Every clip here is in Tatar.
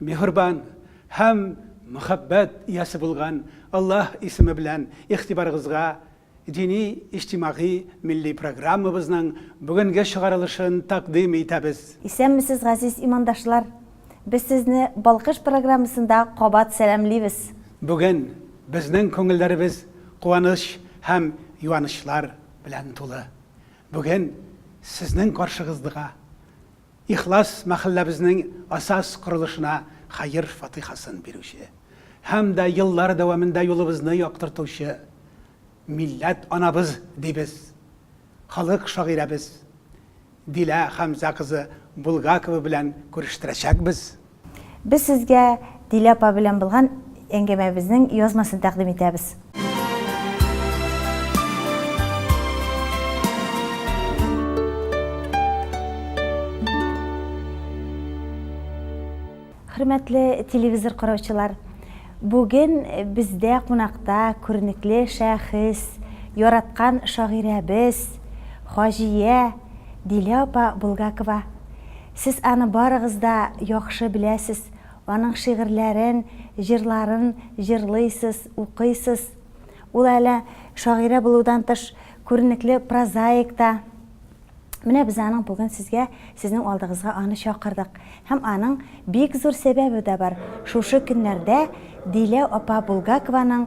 Миһербан һәм мәхәббәт иясе булган Аллаһ исеме белән игътибарыгызга дини, иҗтимагый, милли программабызның бүгенге чыгарылышын тәкъдим итәбез. Исәнмесез газиз имандашлар! Без сезне Балкыш программасында кабат сәламлибез! Бүген безнең күңелләребез куаныч һәм юанычлар белән тулы. Бүген сезнең каршыгыздга. Ихлас мәхәлләбезнең асас корылышына хәер фатыйхасын бирүче һәм дә еллар дәвамында юлыбызны яктыртучы милләт анабыз дибез, халык шагыйрәбез Дилә Хәмзә кызы Булгакова белән күрештерәчәкбез. Без сезгә Дилә апа белән булган әңгәмәбезнең язмасын тәкъдим итәбез. Хөрмәтле телевизор караучылар, бүген бездә кунакта күренекле шәхес, яраткан шагыйрәбез, хаҗия Дилә апа Булгакова. Сез аны барыгыз да яхшы беләсез, аның шигырьләрен, җырларын җырлыйсыз, укыйсыз. Ул әле шагыйрә булудан тыш, күренекле прозаик та. Менә без аның бүген сезгә, сезнең алдыгызга аны чакырдык. Һәм аның бик зур сәбәбе дә бар, шушы көннәрдә Дилә апа Булгакованың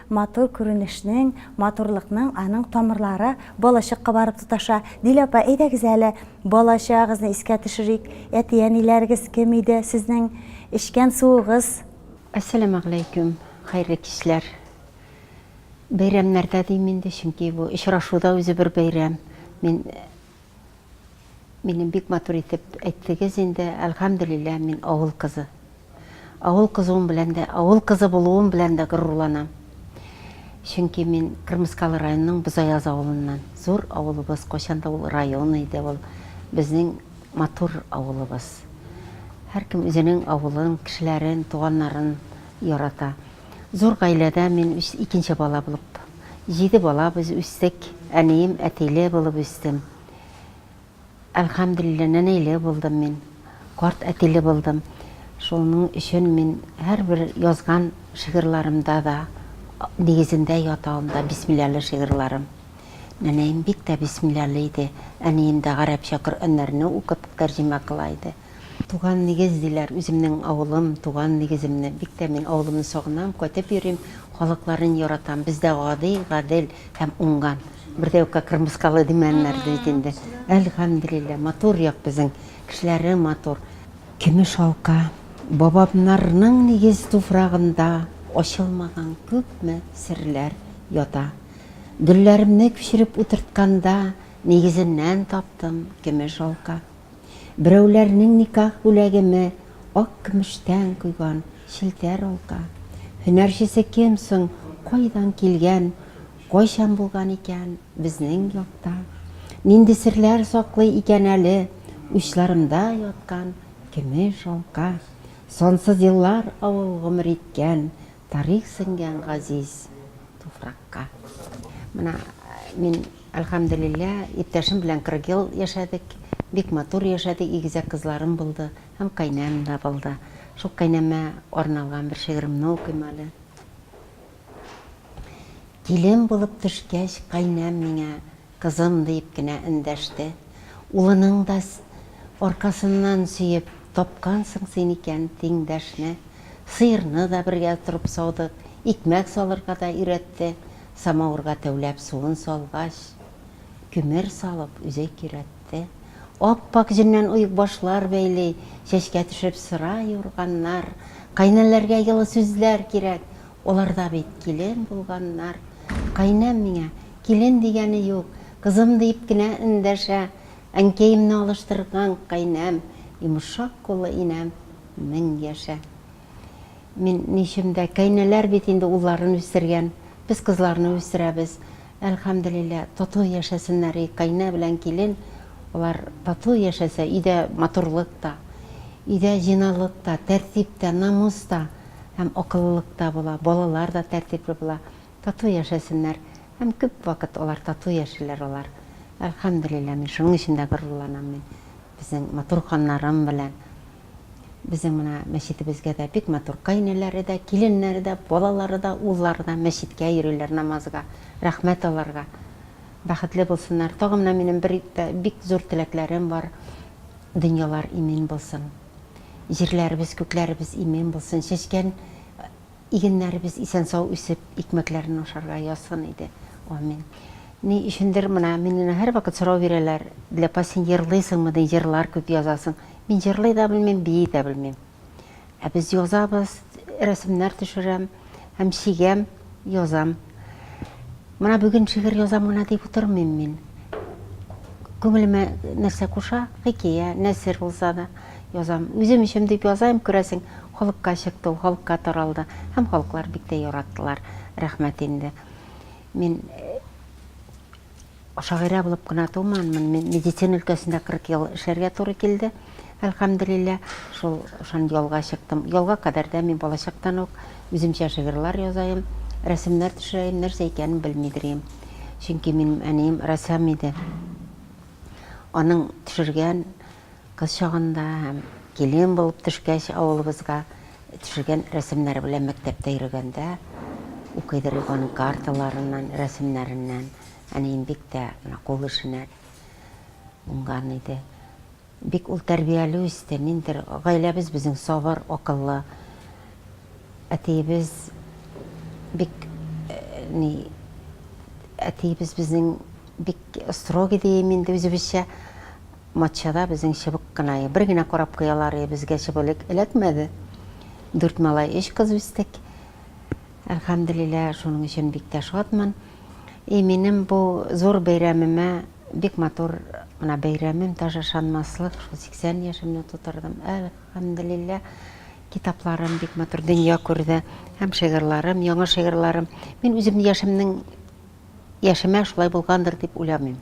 Матур күренешнең, матурлыкның аның тамырлары балачакка барып тоташа. Дилә апа, әйдәгез әле, балачагыгызны искә төшерик. Әти-әниләрегез кем иде, сезнең эчкән суыгыз? Әссәламәгъләйкүм, хәерле кичләр. Бәйрәмнәрдә дим инде, чөнки бу очрашуда үзе бер бәйрәм. Мин. Минем бик матур итеп әйттегез инде, әлхәмдүлилләһ, мин авыл кызы. Авыл кызуым белән дә, авыл кызы булуым белән дә горурланам. Чөнки мин Кырмыскалы районының Бозаяз авылыннан. Зур авылыбыз, кайчан да ул район иде, ул безнең матур авылыбыз. Һәркем үзенең авылын, кешеләрен, туганнарын ярата. Зур гаиләдә мин икенче бала булып. Җиде бала без үстек. Әнием әтиле булып үстем. Әлхәмдүлилләһ, нәнәйле булдым мин. Карт әтиле булдым. Шуның өчен мин һәрбер язган шигырьларымда да нигезендә ята ул да бисмилләһле шигырьларым. Нәнәем бик тә бисмилләһле иде. Әнием дә гарәпчә Коръәннәрне укып тәрҗемә кыла иде. Туган нигез диләр, үземнең авылым, туган нигеземне, бик тә мин авылымны сагынам, кайтып йөрим, халыкларын яратам, бездә гади, гадел һәм уңган, бер дә юкка кырмыскалы димәннәр бит инде, әлхәмдүлилләһ, матур як безнең, кешеләре матур. Көмеш алка, бабамнарның нигез туфрагында ачылмаган күпме серләр ята. Гөлләремне күчереп утыртканда, нигезеннән таптым, көмеш алка. Берәүләрнең никах бүләгеме ак көмештән койган челтәр алка. Һөнәрчесе кем соң, кайдан килгән, кайчан булган икән безнең якта? Нинди серләр саклый икән әле учларымда яткан көмеш алка? Сансыз еллар авыл гомер иткән Тарих сеңгән газиз туфракка. Менә мин, әлхәмделилла, иптәшем белән 40 ел яшәдек. Бик матур яшәдек, игезәк кызларым булды һәм кайнәм дә булды. Шул кайнәмә арналган бер шигыремне укыйм әле. Килен булып төшкәч, кайнәм миңа. Кызым, дип кенә эндәште. Улының да аркасыннан сөеп, Тапкансың син икән тиңдәшне. Сыерны да бергә торып саудык, икмәк салырга да өйрәтте. Самавырга тәүләп суын салгач, күмер салып, үзе көйрәтте. Ап-ак җеннән оекбашлар бәйли, чәчкә төшеп сыра юрганнар. Кайнәләргә йылы сүзләр кирәк, алар да бит килен булганнар. Кайнәм миңа, Килен дигәне юк, кызым дип кенә эндәшә Әнкәемне алыштырган каенәм, Йомшак куллы инәм, мең яшә. Мин ни өчен дә, каенәләр бит инде улларын үстергән, без кызларны үстерәбез. Әлхәмделилла, тату яшәсеннәр и каенә белән килен, алар тату яшәсә, өйдә матурлык та, өйдә җыйнаулык та, тәртип тә, намус та һәм акыллылык та була, балалар да тәртипле була. Тату яшәсеннәр һәм күп вакыт алар тату яшиләр алар. Әлхәмдүлилләһ, мин шуның өчен дә горурланам мин безнең матур ханнарым белән. Безнең менә мәчетебезгә дә бик матур каенеләре дә, киленнәре дә, балалары да, уллары да мәчеткә йөриләр намазга, рәхмәт аларга. Бәхетле булсыннар. Тагын менә минем бер бик зур теләкләрем бар, дөньялар имин булсын. Җирләребез, күкләребез имин булсын. Чәчкән Игеннәребез исән-сау үсеп, икмәкләрен ашарга язсын иде. Амин. Ни өчендер менә миннән һәрвакыт сорау бирәләр, Диләпа, син җырлыйсыңмы ди, җырлар күп язасың. Мин җырлый да белмим, бии дә белмим. Ә без язабыз, рәсемнәр төшерәм һәм чигәм, язам. Менә бүген шигырь язам гына дип утырмыйм мин. Күңелемә нәрсә куша, хикәя, нәсер булса да, язам. Үзем өчен дип язам, күрәсең, халыкка чыкты ул, халыкка таралды. Һәм халыклар бик тә яраттылар, рәхмәт инде. Мин шагыйрә булып кына туманмын, мин медицина өлкәсендә 40 ел эшләргә туры килде. Әлхәмделилла, шул шан ялга чыктым. Ялга кадәр дә мин балачактан ук үземчә шигырьләр язаем, рәсемнәр төшерәем, нәрсә икәнен белмидер идем. Чөнки минем әнием рәссам иде. Аның төшергән кыз чагында һәм килен булып төшкәч авылыбызга төшергән рәсемнәре белән мәктәптә йөргәндә укыйдыр идек аның карталарыннан, рәсемнәреннән. Әнием бик тә менә кул эшенә уңган иде. Бик ул тәрбияле үсте, ниндидер гаиләбез безнең сабыр, акыллы. Әтиебез бик ни әтиебез безнең бик строгый дием инде үзебезчә. Матчада безнең чыбык кына, бер генә карап куялар, безгә чыбылык эләкмәде. Дүрт малай, өч кыз үстек. Әлхәмделилла, шуның өчен бик тә шатмын. И минем бу зур бәйрәмемә, бик матур мына бәйрәмем, даже ышанмаслык, шул 80 яшемне тутырдым. Әлхәмделилла, китапларым бик матур дөнья күрде һәм шигырьларым, яңа шигырьларым. Мин үзем яшемнең Яшемә шулай булгандыр дип уйламыйм.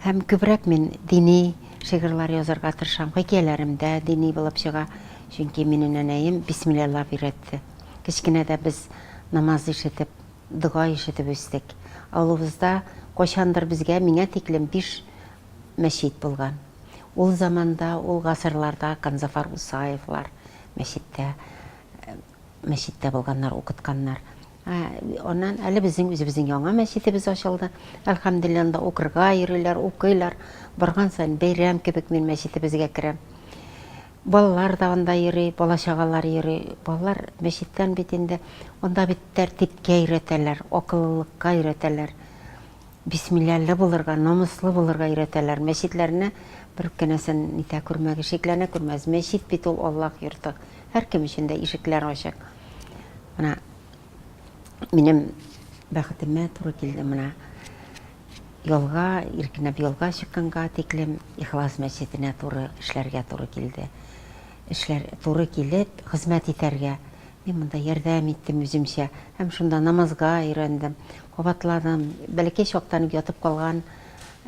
Һәм күбрәк мин дини шигырьләр язарга тырышам. Хикәяләрем дә дини булып чыга, чөнки минем нәнәем бисмиллялап өйрәтте. Кечкенәдә без намаз ишетеп, дога ишетеп үстек. Авылыбызда кайчандыр безгә, миңа тиклем биш мәчет булган. Ул заманда, ул гасырларда Канзафар Усаевлар мәчеттә мәчеттә булганнар, укытканнар. Ә аннан әле безнең үзебезнең яңа мәчетебез ачылды. Әлхәмдуллилла, анда укырга йөриләр, укыйлар. Барган саен бәйрәм кебек мин мәчетебезгә керәм. Балалар да анда йөри, бала-чагалар йөри. Балалар мәчеттән бит инде, анда бит тәртипкә өйрәтәләр, акыллылыкка өйрәтәләр. Бисмилляле булырга, намуслы булырга өйрәтәләр. Мәчетләрне бер кенәсен нитә күрмәгез, шикләнә күрмәгез. Мәчет бит ул Аллаһ йорты. Һәркем өчен дә ишекләр ачык. Менә минем бәхетемә туры килде менә. Ялга, иркенәп ялга чыкканга тиклем Ихлас мәчетенә туры эшләргә туры килде. Эшләр туры килеп, хезмәт итәргә. Мин монда ярдәм иттем үземчә һәм шунда намазга өйрәндем, кабатладым. Бәләкәй чактан ук ятып калган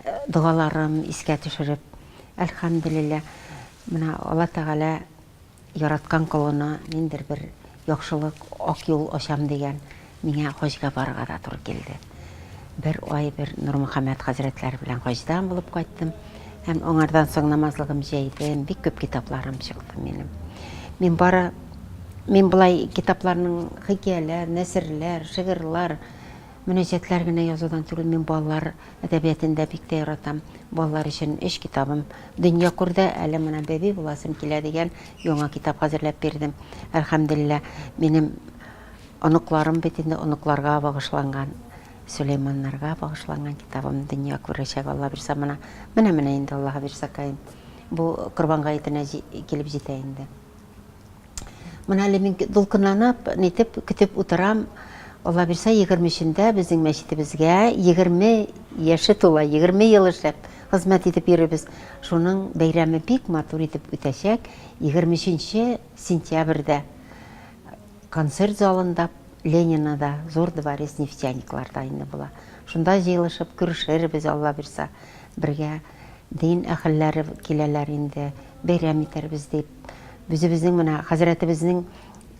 э, догаларым искә төшереп, әлхәмдүлилләһ. Менә Алла Тәгалә Яраткан колына ниндер бер яхшылык, ак юл ачам дигән, миңа хаҗга барырга да туры килде. Бер ай бер Нурмөхәммәт хәзрәтләре белән хаҗдан булып кайттым һәм аңардан соң намазлыгым җәйдем, бик күп китапларым чыкты минем. Мин бары мин болай китапларның хикәяләр, нәсерләр, шигырьләр, Мөнәҗәтләр генә язудан түгел, мин балалар әдәбиятын да бик тә яратам. Балалар өчен өч китабым дөнья күрде, әле менә Бәби буласым килә дигән яңа китап хәзерләп бирдем. Әлхәмделилла, минем оныкларым бит инде, оныкларга багышланган, Сөләйманнарга багышланган китабым дөнья күрәчәк, Аллабирса, менә, менә-менә инде, Аллаһыбирсакаем, бу Корбан гаетенә килеп җитә инде. Менә әле мин дулкынланып, нитеп көтеп утырам. Алла бирсә, 23-ндә безнең мәчетебезгә 20 яше тула, 20 ел эшләп, хезмәт итеп йөрибез. Шуның бәйрәме бик матур итеп үтәчәк. 23 сентябрьдә концерт залында Ленинада, зур дворец нефтяникларда инде була. Шунда җыелышып күрешербез, Алла бирсә, бергә. Дин әһелләре киләләр инде, бәйрәм итәрбез дип. Үзебезнең менә хәзрәтебезнең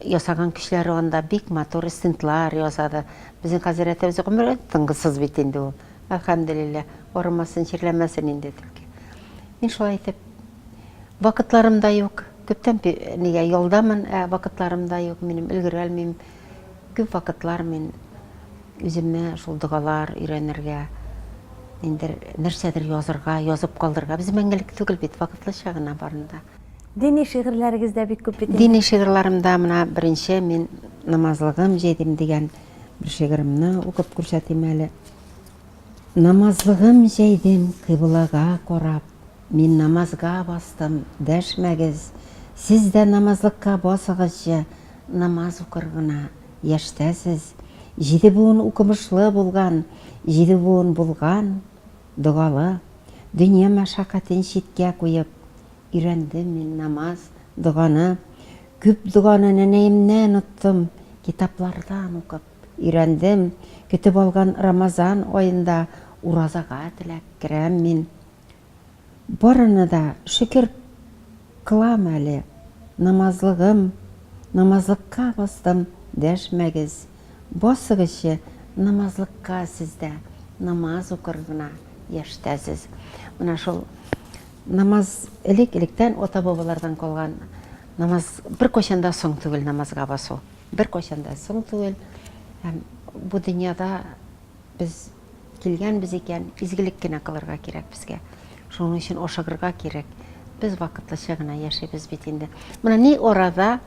ясаган кичләре анда бик матур стендлар ясады. Безнең хәзрәтебез гомере тынгысыз бит инде ул. Әлхәмдулилла, арымасын, чирләмәсен инде түлке. Мин шулай итеп, вакытларым да юк. Күптән нигә ялдамын, ә вакытларым да юк, минем өлгерә алмыйм. Күп вакытлар мин үземә шул догалар өйрәнергә, ниндер нәрсәдер язырга, язып калдырырга. Без мәңгелек түгел бит, вакытлыча гына барын да. Дини шигырьләрегез дә бик күп бит инде. Дини шигырьләремдә менә беренче мин Намазлыгым җәйдем дигән бер шигыремне укып күрсәтим әле. Намазлыгым җәйдем кыйблага карап. Мин намазга бастым, дәшмәгез, сез дә намазлыкка басыгызчы, намаз укыр гына, яшьтәсез, җиде буын укымышлы булган, җиде буын булган, догалы, дөнья мәшәкатен читкә куеп, өйрәндем мин намаз, доганы, күп доганы нәнәемнән оттым, китаплардан укып, өйрәндем, көтеп алган Рамазан аенда уразага теләк керәм мин, Барына да шөкер кылам әле, намазлыгым, намазлыкка бастым, дәшмәгез, басыгызчы намазлыкка сездә, намаз укыр гына яшьтәсез. Менә шул намаз элек электән ата бабалардан калган намаз беркайчан да соң түгел намазга басу, беркайчан да соң түгел һәм бу дөньяда без Килгәнбез икән, изгелек кенә кылырга кирәк безгә. Шуның өчен ашыгырга кирәк. Без вакытлыча гына яшибез бит инде. Менә ни арада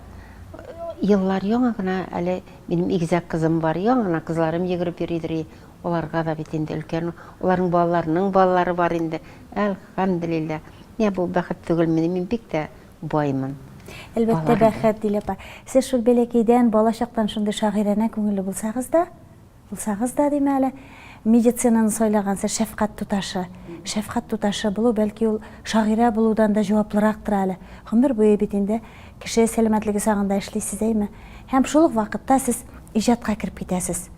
еллар яңа гына әле минем игезәк кызым бар, яңа гына кызларым йөгереп йөридер, аларга да бит инде өлкән, аларның балаларының балалары бар инде. Әлхәмделилла. Менә бу бәхет түгелмени, мин бик тә баймын. Әлбәттә, бәхет, Дилә апа. Сез шул бәләкәйдән, балачактан шундый шагыйранә күңелле булсагыз да, Булсагыз да, дим әле, медицинаны сайлагансыз, шәфкать туташы. Шәфкать туташы булу, бәлки ул шагыйрә булудан да җаваплырактыр әле. Гомер буе бит инде кеше сәламәтлеге сагында эшлисез, әйме? Һәм шул ук вакытта сез иҗатка кереп китәсез.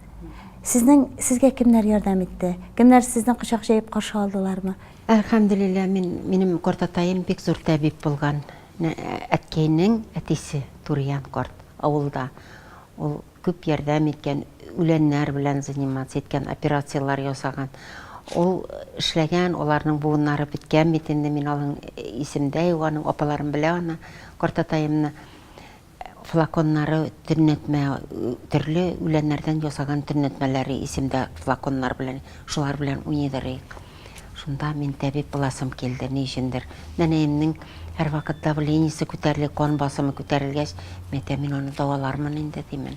Сезнең, сезгә кемнәр ярдәм итте? Кемнәр сезне кочак җәеп каршы алдылармы? Әлхәмдүлилләһ, мин, минем картатаем бик зур табиб булган. Әткәйнең әтисе, Туриян карт, авылда. Ул Күп ярдәм иткән, үләннәр белән заниматься иткән, операцияләр ясаган. Ул эшләгән, аларның буыннары беткән бит инде, мин алың исемдә юк, аның апаларым белә аны, картатаемны. Флаконнары төннәтмә, төрле үләннәрдән ясаган төннәтмәләре исемдә флаконнар белән, шулар белән уйныйдырыйк. Шунда мин табиб буласым килде, ни өчендер. Нәнәемнең һәрвакыт давлениесе күтәрелә, кан басымы күтәрелгәч, мәтә мин аны дәвалармын инде димен.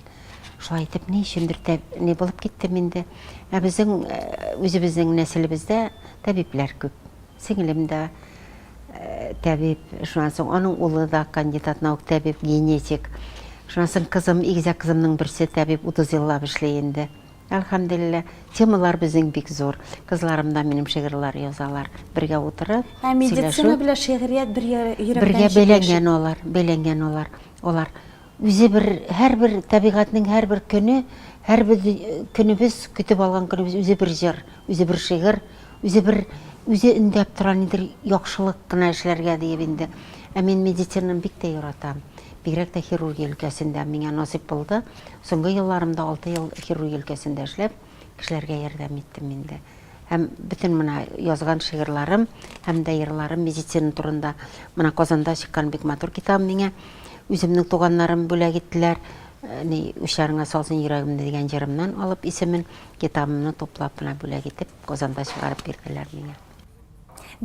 Шулай итеп, ни өчендер ни булып киттем инде. Ә безнең э, үзебезнең нәселебездә табиблар күп. Сеңлем дә э, табиб, шуннан соң аның улы да кандидат наук табиб, генетик. Шуннан соң кызым, игезәк кызымның берсе табиб, 30 еллап эшли инде. Әлхәмделилла, темалар безнең бик зур. Кызларым да минем шигырьләр язалар. Бергә утырып, сөйләшү. Ә медицина белән шигърият бер йөрәктән җиңеләшә. Бергә бәйләнгән алар, бәйләнгән алар. Алар үзе бер, һәрбер табигатьнең һәрбер көне, һәрбер көнебез, көтеп алган көнебез үзе бер җыр, үзе бер шигырь, үзе бер, үзе өндәп тора нидер яхшылык кына эшләргә диеп инде. Ә мин медицинаны бик тә яратам. Бигрәк тә хирургия өлкәсендә миңа насыйп булды. Соңгы елларымда алты ел хирургия өлкәсендә эшләп, кешеләргә ярдәм иттем инде. Һәм бөтен менә язган шигырьларым һәм дә йырларым медицина турында. Менә Казанда чыккан бик матур китабым миңа үземнең туганнарым бүләк иттеләр. Э, ни учарыңа салсын йөрәгемне дигән җырымнан алып исемен китабымны туплап менә бүләк итеп Казанда чыгарып бирделәр миңа.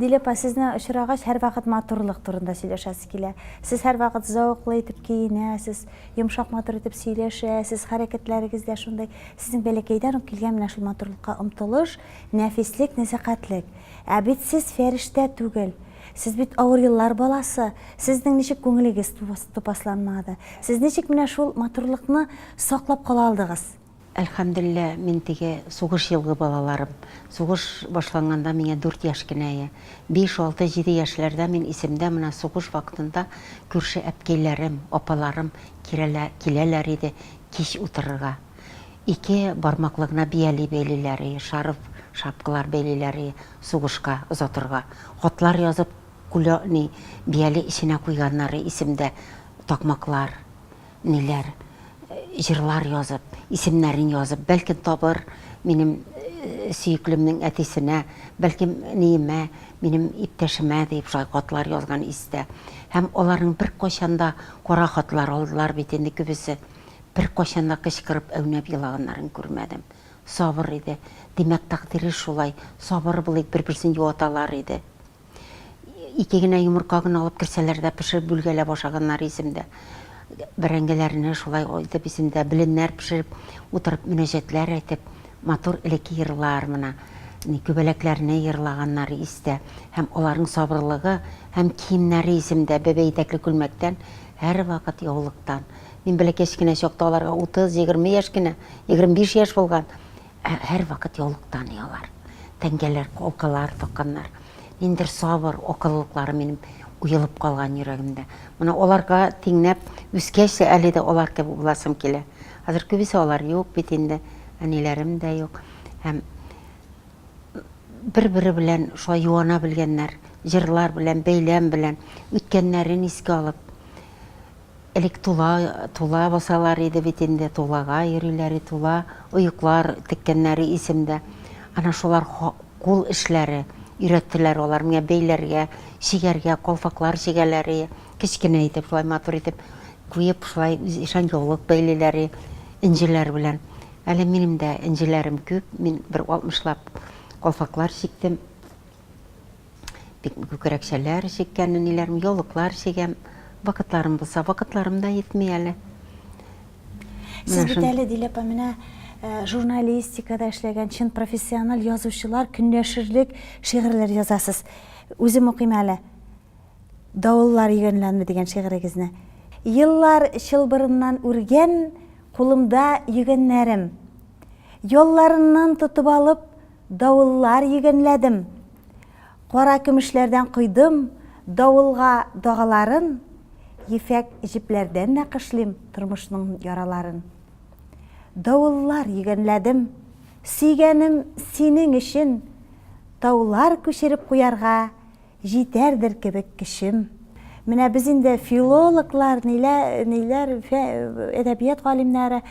Дилә апа, сезне очрагач, һәрвакыт матурлык турында сөйләшәсе килә. Сез һәрвакыт зәвыклы итеп киенәсез, йомшак матур итеп сөйләшәсез, хәрәкәтләрегез дә шундый. Сезнең бәләкәйдән үк килгән менә шул матурлыкка омтылыш, нәфислек, нәзакәтлек. Ә бит сез фәрештә түгел. Сез бит авыр еллар баласы. Сезнең ничек күңелегез тупасланмады? Сез ничек менә шул матурлыкны саклап кала алдыгыз? Әлхәмдуллилла, мин теге сугыш елгы балаларым. Сугыш башланганда миңа дүрт яшь кенә я. Биш, алты, җиде яшьләрдә мин исемдә менә сугыш вакытында күрше әпкәйләрем, апаларым кирәлә, киләләр иде кич утырырга. Ике бармаклы гына бияли бәйлиләр и, шарф, шапкалар бәйлиләр и, сугышка озатырга. Хатлар язып, кулё, ни, бияли эченә куйганнар и, исемдә, такмаклар. ниләр җырлар язып, исемнәрен язып, бәлкем табыр минем сөеклемнең әтисенә, бәлкем ниемә, минем иптәшемә дип шулай хатлар язган истә. Һәм аларның беркайчан да кара хатлар алдылар бит инде күбесе. Беркайчан да кычкырып әүнәп елаганнарын күрмәдем. Сабыр иде. Димәк, тәкъдире шулай, сабыр булыйк, бер-берсен юаталар иде. Ике генә йомырка гына алып керсәләр дә, пешереп бүлгәләп ашаганнар исемдә. Бәрәңгеләрне шулай итеп исемдә, беленнәр пешереп, утырып мөнәҗәтләр әйтеп, матур элекке йырлар мына. Күбәләкләрне йырлаганнар истә. Һәм аларның сабырлыгы һәм киемнәре исемдә, бәбәй итәкле күлмәктән, һәрвакыт яулыктан. Мин бәләкәч кенә чакта аларга утыз, егерме яшь кенә, егерме биш яшь булган. Ә һәрвакыт яулыктан оялар. Тәңгәләр, калкалар такканнар. Ниндер сабыр акыллылыклары минем уелып калган йөрәгемдә. Менә аларга тиңнәп үскәч тә әле дә алар кебек буласым килә. Хәзер күбесе алар юк бит инде, әниләрем дә юк. Һәм бер-бере белән шулай юана белгәннәр, җырлар белән, бәйләм белән, үткәннәрен искә алып. Элек тула, тула басалар иде бит инде, тулага йөриләр и тула, оеклар теккәннәре исемдә. Ана шулар ха кул эшләре, өйрәттеләр алар миңа бәйләргә, чигәргә, калфаклар чигәләр и, кечкенә итеп, шулай матур итеп куеп, шулай үз ишан яулык бәйлиләр и, энҗеләр белән. Әле минем дә энҗеләрем күп, мин бер алтмышлап калфаклар чиктем. Бик күкрәкчәләр чиккән ниләрем, яулыклар чигәм. Вакытларым булса, вакытларым да җитми әле. Сез бит әле, Дилә апа, менә э, журналистикада эшләгән чын профессиональ язучылар көнләшерлек шигырьләр язасыз. Үзем укыйм әле. Давыллар йөгәнләнме дигән шигырегезне. Еллар чылбырыннан үргән кулымда йөгәннәрем. Ялларыннан тотып алып, Давыллар йөгәнләдем. Кара көмешләрдән койдым давылга дагаларын, Ефәк җепләрдән нәкышлим тормышның яраларын. Давыллар йөгәнләдем. Сөйгәнем, синең өчен таулар күчереп куярга, Җитәрдер кебек кечем. Менә без инде филологлар, ниләр, әдәбият галимнәре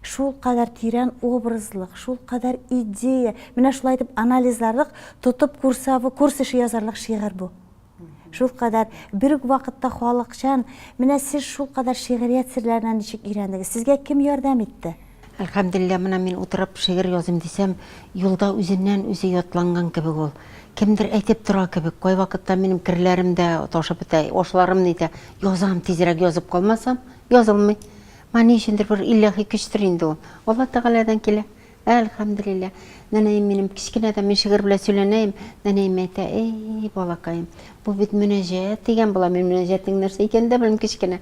шул кадәр тирән образлык, шул кадәр идея. Менә шулай итеп анализларлык, тотып курсавы, курс эше язарлык шигырь бу. Шул кадәр бер үк вакытта халыкчан. Менә сез шул кадәр шигърият серләренә ничек өйрәндегез? Сезгә кем ярдәм итте? Әлхәмдүлилләһ, менә мин утырып шигырь языйм дисәм, юлда үзеннән үзе ятланган кебек ул. Кемдер әйтеп тора кебек, кайвакытта минем керләрем дә ташып бетә, ашларым нитә. Язам, тизрәк язып калмасам, язылмый. Моңа ни өчендер бер илаһи көчтер инде ул. Алла Тәгаләдән килә. Әлхәмдүлилләһ. Нәнәем минем кечкенәдән мин шигырь белән сөйләнәем, нәнәем әйтә, Әй, балакаем, бу бит мөнәҗәт дигән була, мин мөнәҗәтнең нәрсә икәнен дә белмим, кечкенә.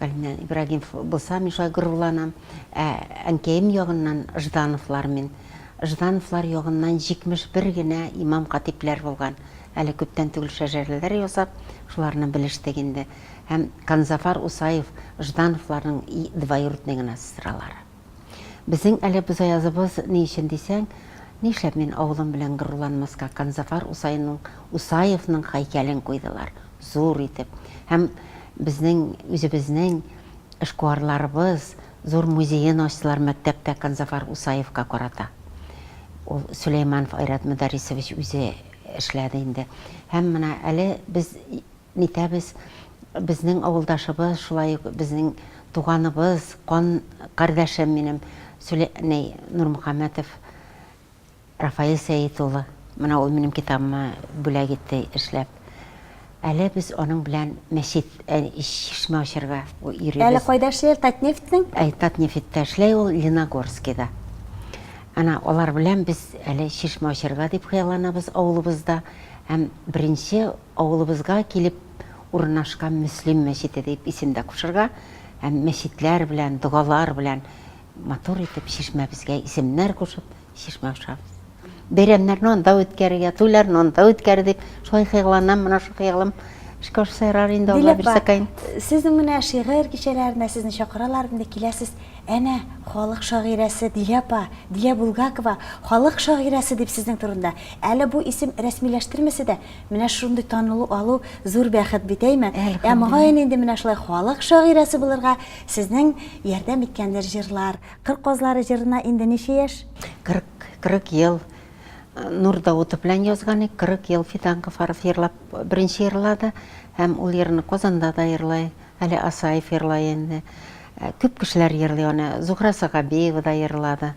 Галимнән Ибрагимов булса, мин шулай горурланам. Ә әнкәем ягыннан Ждановлар мин. Ждановлар ягыннан 71 генә имам-хатибләр булган. Әле күптән түгел шәҗәрәләр ясап, шуларны белештек инде. Һәм Канзафар Усаев Ждановларның двоюродный гына сестралары. Безнең әле бозаязыбыз ни өчен дисәң, нишләп мин авылым белән горурланмаска, Канзафар Усаенның Усаевның хәйкәлен куйдылар, зур итеп, һәм безнең үзебезнең эшкуарларыбыз зур музеен ачтылар мәктәптә Канзафар Усаевка карата. Ул Сөләйманов Айрат Мөдәрисович үзе эшләде инде. Һәм менә әле без Нитәбез, безнең авылдашыбыз, шулай ук безнең туганыбыз, кан кардәшем минем Сүлә ни, Нурмөхәммәтов Рафаил Сәет улы. Менә ул минем китабыма бүләк итте эшләп. Әле без аның белән мәчет, ә чишмә ачарга йөрибез. Әле кайда эшли ул, Татнефтьнең? Әй, Татнефтьтә эшләй ул, Леногорскида. Әнә алар белән без әле чишмә ачарга дип хыялланабыз авылыбызда. Һәм беренче Авылыбызга килеп урынашкан Мөслим мәчете дип исем дә кушырга һәм мәчетләр белән, догалар белән матур итеп чишмәбезгә исемнәр кушып, чишмә ашабыз. Бәйрәмнәрне анда үткәрергә, туйларны анда үткәр дип, шулай хыялланам, менә шул хыялым эшкә ашса ярар инде, Алла бирсәкәен. Дилә апа, сезнең менә шигырь кичәләренә сезне чакыралар инде, киләсез. Әнә, халык шагыйрәсе Дилә апа, Дилә Булгакова, халык шагыйрәсе дип сезнең турында. Әле бу исем рәсмиләштермәсә дә, Менә шундый танылу алу зур бәхет бит, әйме? Ә мөгаен инде менә шулай халык шагыйрәсе булырга сезнең ярдәм иткәндер җырлар. Кыр казлары җырына инде ничә яшь? Кырык, кырык ел. Нур Даутов белән язган ик, кырык ел Фидан Гафаров җырлап, беренче җырлады һәм ул җырны Казанда да җырлый, әле Асаев җырлый инде. Күп кешеләр җырлый аны, Зухра Сагабиева да җырлады.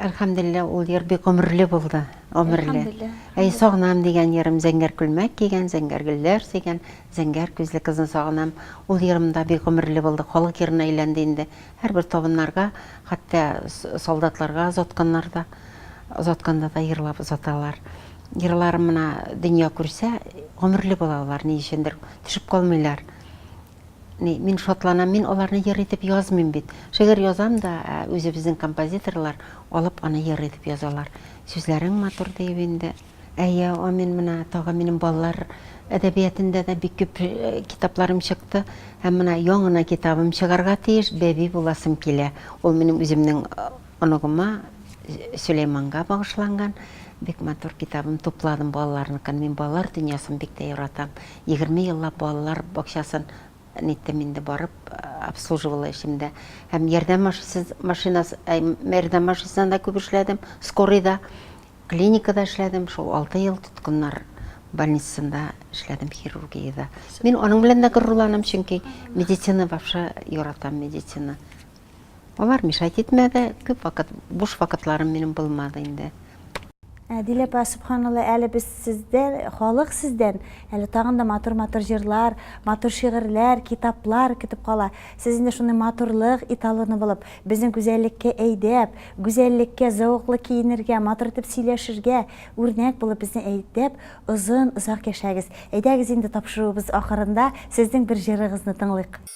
Әлхәмдуллилла, ул җыр бик гомерле булды, гомерле. Әй, сагынам дигән җырым, зәңгәр күлмәк кигән, зәңгәр гөлләр сигән, зәңгәр күзле кызны сагынам. Ул җырым да бик гомерле булды, халык җырына әйләнде инде. Һәрбер табыннарга, хәтта солдатларга озатканнар да, озатканда да җырлап озаталар. Җырларым менә дөнья күрсә, гомерле була алар, ни өчендер, төшеп калмыйлар. Ни, мин шатланам, мин аларны йыр итеп язмыйм бит. Шигырь язам да, ә үзебезнең композиторлар алып аны йыр итеп язалар. Сүзләрең матур, диеп инде. Әйе, амин, менә тагы минем балалар әдәбиятендә дә бик күп китапларым чыкты. Һәм менә яңына китабым чыгарга тиеш, Бәби буласым килә. Ул минем үземнең оныгыма, Сөләйманга багышланган. Бик матур китабым, тупладым балаларныкын. Мин балалар дөньясын бик тә яратам. Егерме еллап балалар бакчасын ниттем инде барып, обслуживала эшем дә. Һәм ярдәм машисыз, машинасы, әй, ярдәм машинасында да күп эшләдем, скорыйда, клиникада эшләдем, шул алты ел тоткыннар больницасында эшләдем, хирургиядә. Мин аның белән дә горурланам, чөнки медицина, вообще, яратам медицина. Алар мешать итмәде, күп вакыт буш вакытларым минем булмады инде. Әдил апа, субханалла, әле без сездән, халык сездән, әле тагын да матур-матур җырлар, матур шигырьләр, китаплар көтеп кала. Сез инде шуны матурлык италоны булып, безне гүзәллеккә әйдәп, гүзәллеккә зәвыклы киенергә, матур итеп сөйләшергә, үрнәк булып безне әйдәп, озын, озак яшәгез. Әйдәгез инде тапшыруыбыз ахырында сезнең бер җырыгызны тыңлыйк.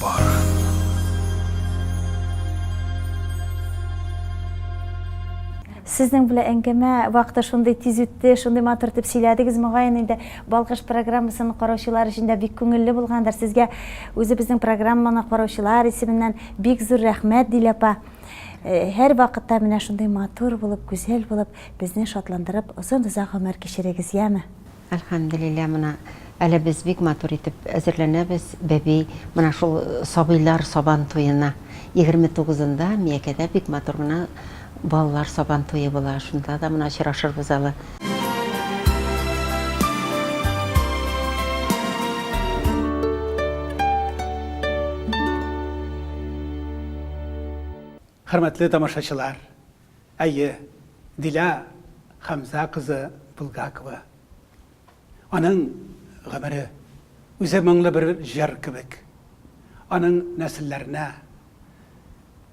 Бар. Сезнең белән әңгәмә вакыты шундый тиз үтте, шундый матур итеп сөйләдегез, могаен инде Балкыш программасын караучылар өчен дә бик күңелле булгандыр. Сезгә үзебезнең программаны караучылар исеменнән бик зур рәхмәт, Дилә апа. Һәр вакытта менә шундый матур булып, гүзәл булып, безне шатландырып, озын-озак гомер кичерегез, яме! Әлхәмделилла мына әле без бик матур итеп әзерләнәбез бәби мына шул сабыйлар сабан туена. Егерме тугызында Миякәдә бик матур гына балалар сабан туе була, шунда да мына очрашырбыз әле. Хөрмәтле тамашачылар! Әйе, Дилә Хәмзә кызы Булгакова. Аның гомере, үзе моңлы бер җыр кебек. Аның нәселләренә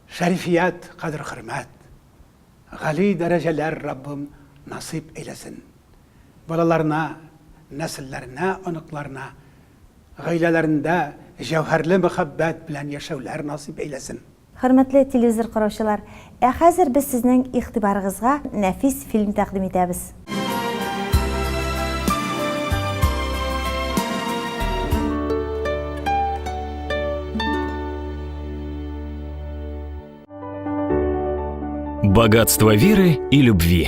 шәрифият, кадер-хөрмәт, гали дәрәҗәләр Раббым насыйп әйләсен. Балаларына, нәселләренә, оныкларына, гаиләләрендә җәүһәрле мәхәббәт белән яшәүләр насыйп әйләсен. Хөрмәтле телевизор караучылар, ә хәзер без сезнең игътибарыгызга нәфис фильм тәкъдим итәбез. Богатство веры и любви.